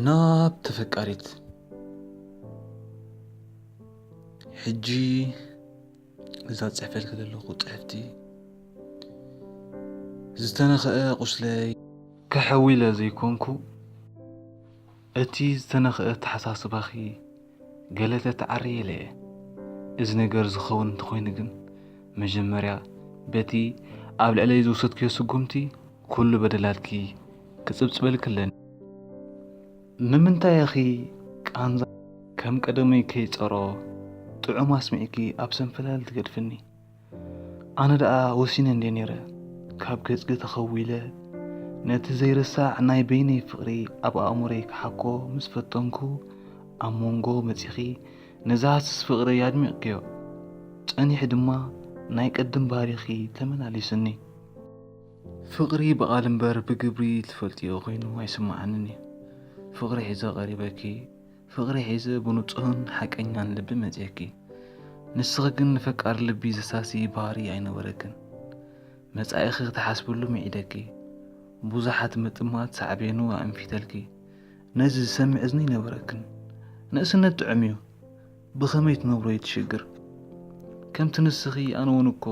ናብ ተፈቃሪት ሕጂ እዛ ፅሕፈልኪ ዘለኹ ፅሕፍቲ ዝተነኸአ ቁስለይ ከሐዊለ ዘይኮንኩ እቲ ዝተነኽኣ ኣተሓሳስባኺ ገለ ተትዓርይለ እየ። እዚ ነገር ዝኸውን እንተኾይኑ ግን መጀመርያ በቲ ኣብ ልዕለይ ዝወሰድክዮ ስጉምቲ ኩሉ በደላትኪ ክጽብጽበልኪ ኣለኒ። ንምንታይ ኢኺ ቃንዛ ከም ቀደመይ ከይጸሮ ጥዑም ኣስሚዕኪ ኣብ ሰንፈላል ትገድፍኒ? ኣነ ደኣ ወሲነ እንድየ ነይረ ካብ ገጽኪ ተኸዊለ ነቲ ዘይርሳዕ ናይ በይነይ ፍቕሪ ኣብ ኣእምሮይ ክሓኮ ምስ ፈተንኩ ኣብ መንጎ መጺኺ ነዛ ሃስስ ፍቕረይ ኣድሚቕክዮ ጸኒሑ ድማ ናይ ቅድም ባህሪኺ ተመላሊሱኒ ፍቕሪ ብቓል እምበር ብግብሪ ትፈልጥዮ ኮይኑ ኣይስምዓንን እዩ ፍቕሪ ሒዘ ቀሪበኪ ፍቕሪ ሒዘ ብንጹህን ሓቀኛን ልቢ መጺኤኪ፣ ንስኺ ግን ንፈቃር ልቢ ዘሳሲ ባህሪ ኣይነበረክን። መጻኢኺ ክትሓስብሉ ምዒደኪ፣ ብዙሓት ምጥማት ሳዕቤኑ ኣእንፊተልኪ፣ ነዚ ዝሰምዕ እዝኒ ኣይነበረክን። ንእስነት ጥዑም'ዩ፣ ብኸመይ ትነብሮ እዩ እቲ ሽግር። ከምቲ ንስኺ ኣነ'ውን እኮ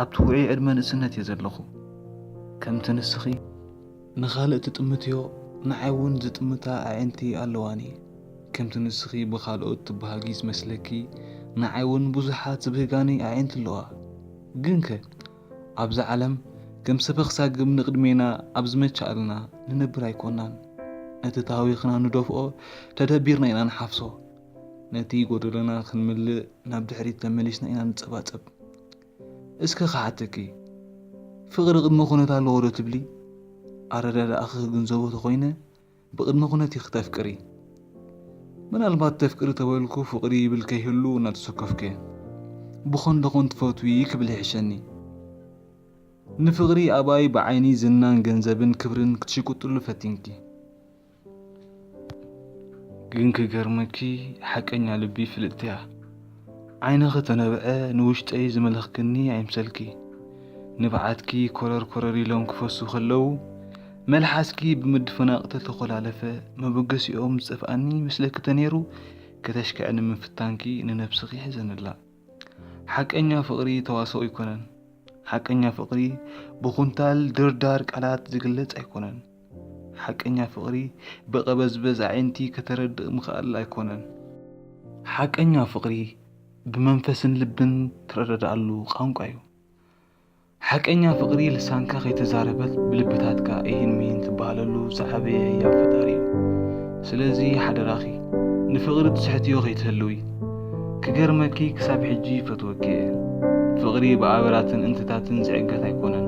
ኣብቲ ውዑይ ዕድመ ንእስነት'የ ዘለኹ። ከምቲ ንስኺ። ንኻልእ ትጥምትዮ ንዓይ ውን ዝጥምታ ኣዒንቲ ኣለዋኒ ከምቲ ንስኺ ብኻልኦት ትብሃጊ ዝመስለኪ ንዓይ ውን ብዙሓት ዝብህጋኒ ኣዒንቲ ኣለዋ ግንከ ኣብዛ ዓለም ከም ሰበኽ ሳግም ንቕድሜና ኣብ ዝመቸኣልና ንነብር ኣይኮናን ነቲ ተሃዊኽና ንደፍኦ ተደቢርና ኢና ንሓፍሶ ነቲ ጎደሎና ክንምልእ ናብ ድሕሪት ተመሊስና ኢና ንጸባጸብ እስከ ክሓተኪ ፍቅሪ ቅድመ ኩነት ኣለዎ ዶ ትብሊ ኣረዳድኣኪ ክግንዘቦ ተኮይነ ብቅድመ ኩነት ኢኪ ተፍቅሪ ምናልባት ተፍቅሪ ተበልኩ ፍቅሪ ይብል ከይህሉ እናተሰከፍኩየ ብኮን ደኮን ትፈትዊ ክብል ይሕሸኒ ንፍቅሪ ኣባይ ብዓይኒ ዝናን ገንዘብን ክብርን ክትሽቅጥሉ ፈቲንኪ ግን ክገርመኪ ሓቀኛ ልቢ ፍልጥቲ እያ ዓይንኺ ተነብዐ ንውሽጠይ ዝመለኽክኒ ኣይምሰልኪ ንብዓትኪ ኮረር ኮረር ኢሎም ክፈሱ ከለዉ መልሓስኪ ብምድፈናቕ ተተኾላለፈ መበገሲኦም ዝጠፍኣኒ ምስለኪ ተነይሩ ከተሽክዐኒ ምፍታንኪ ንነብስኺ ሕዘንላ ሓቀኛ ፍቕሪ ተዋስኦ ኣይኮነን ሓቀኛ ፍቕሪ ብኹንታል ድርዳር ቃላት ዝግለጽ ኣይኮነን ሓቀኛ ፍቕሪ ብቐበዝበዝ ኣዒንቲ ከተረድእ ምኽኣል ኣይኮነን። ሓቀኛ ፍቕሪ ብመንፈስን ልብን ትረዳዳኣሉ ቛንቋ'ዩ። ሓቀኛ ፍቕሪ ልሳንካ ከይተዛረበት ብልብታትካ እሂን ምሂን ትበሃለሉ ዝዓበየ ህያብ ፈጣሪ'ዩ። ስለዚ ሓደራኺ ንፍቕሪ ትስሕትዮ ከይትህልዊ። ክገርመኪ ክሳብ ሕጂ ይፈትወኪ'የ። ፍቕሪ ብኣበራትን እንትታትን ዝዕገት ኣይኮነን።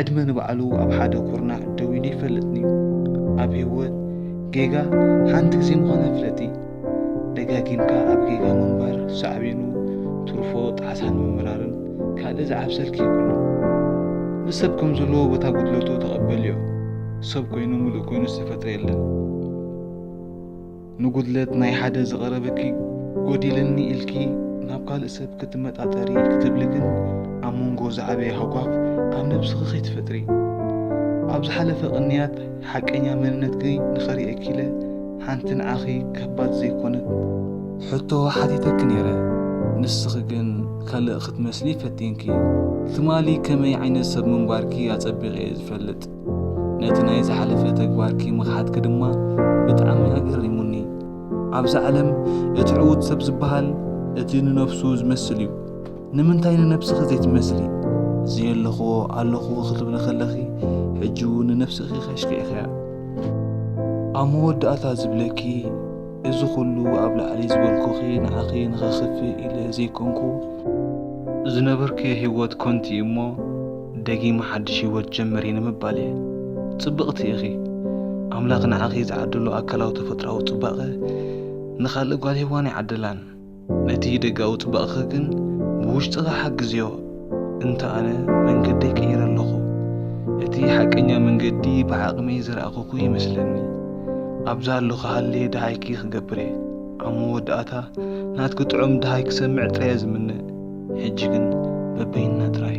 ዕድመ ንባዕሉ ኣብ ሓደ ኩርናዕ ደው ኢሉ ይፈልጥን'ዩ። ኣብ ህይወት ጌጋ ሓንቲ ግዜ ምዃና ፍለጢ። ደጋጊምካ ኣብ ጌጋ ምንባር ሳዕቤኑ ትርፎ ጣዕሳን ምምራርን ካልእ ዝዓብሰልኪ የብሉን። ንሰብ ከም ዘለዎ በታ ጉድለቱ ተቐበልዮ። ሰብ ኮይኑ ምሉእ ኮይኑ ዝተፈጥረ የለን። ንጉድለት ናይ ሓደ ዝቐረበኪ ጎዲልኒ ኢልኪ ናብ ካልእ ሰብ ክትመጣጠሪ ክትብሊ ግን ኣብ መንጎ ዝዓበየ ሃጓፍ ኣብ ነብስኺ ከይትፈጥሪ። ኣብ ዝሓለፈ ቅንያት ሓቀኛ መንነትኪ ንኸርእየኪ ኢለ ሓንቲ ንዓኺ ከባድ ዘይኮነት ሕቶ ሓቲተኪ ነይረ። ንስኺ ግን ካልእ ክትመስሊ ፈቲንኪ። ትማሊ ከመይ ዓይነት ሰብ ምንባርኪ ኣጸቢቐ'የ ዝፈልጥ። ነቲ ናይ ዝሓለፈ ተግባርኪ ምኽሓድኪ ድማ ብጣዕሚ ኣገሪሙኒ። ኣብዛ ዓለም እቲ ዕዉት ሰብ ዝበሃል እቲ ንነብሱ ዝመስል እዩ። ንምንታይ ንነብስኺ ዘይትመስሊ? ዘየለኽዎ ኣለኽዎ ክትብሊ ከለኺ ሕጂ እውን ንነብስኺ ከሽኪዕኽያ። ኣብ መወዳእታ ዝብለኪ እዚ ኩሉ ኣብ ላዕሊ ዝበልኩኺ ንዓኺ ንኸኽፍእ ኢለ ዘይኮንኩ፣ ዝነበርክዮ ሂወት ኮንቲ እዩ እሞ ደጊመ ሓድሽ ሂወት ጀምሪ ንምባል እየ። ጽብቕቲ ኢኺ። ኣምላኽ ንዓኺ ዝዓደሎ ኣካላዊ ተፈጥሮኣዊ ጽባቐ ንኻልእ ጓል ሄዋን ኣይዓደላን። ነቲ ደጋዊ ጽባቕኺ ግን ብውሽጥኺ ሓግዝዮ። እንተ ኣነ መንገደይ ቀይረ ኣለኹ። እቲ ሓቀኛ መንገዲ ብዓቕመይ ዝረኣኹኩ ይመስለኒ። ኣብ ዝሃለኹ ሃልየ ደሃይኪ ክገብርየ። ኣብ መወዳእታ ናትኪ ጥዑም ደሃይ ክሰምዕ ጥራየ ዝምነ። ሕጂ ግን በበይንና ጥራይ።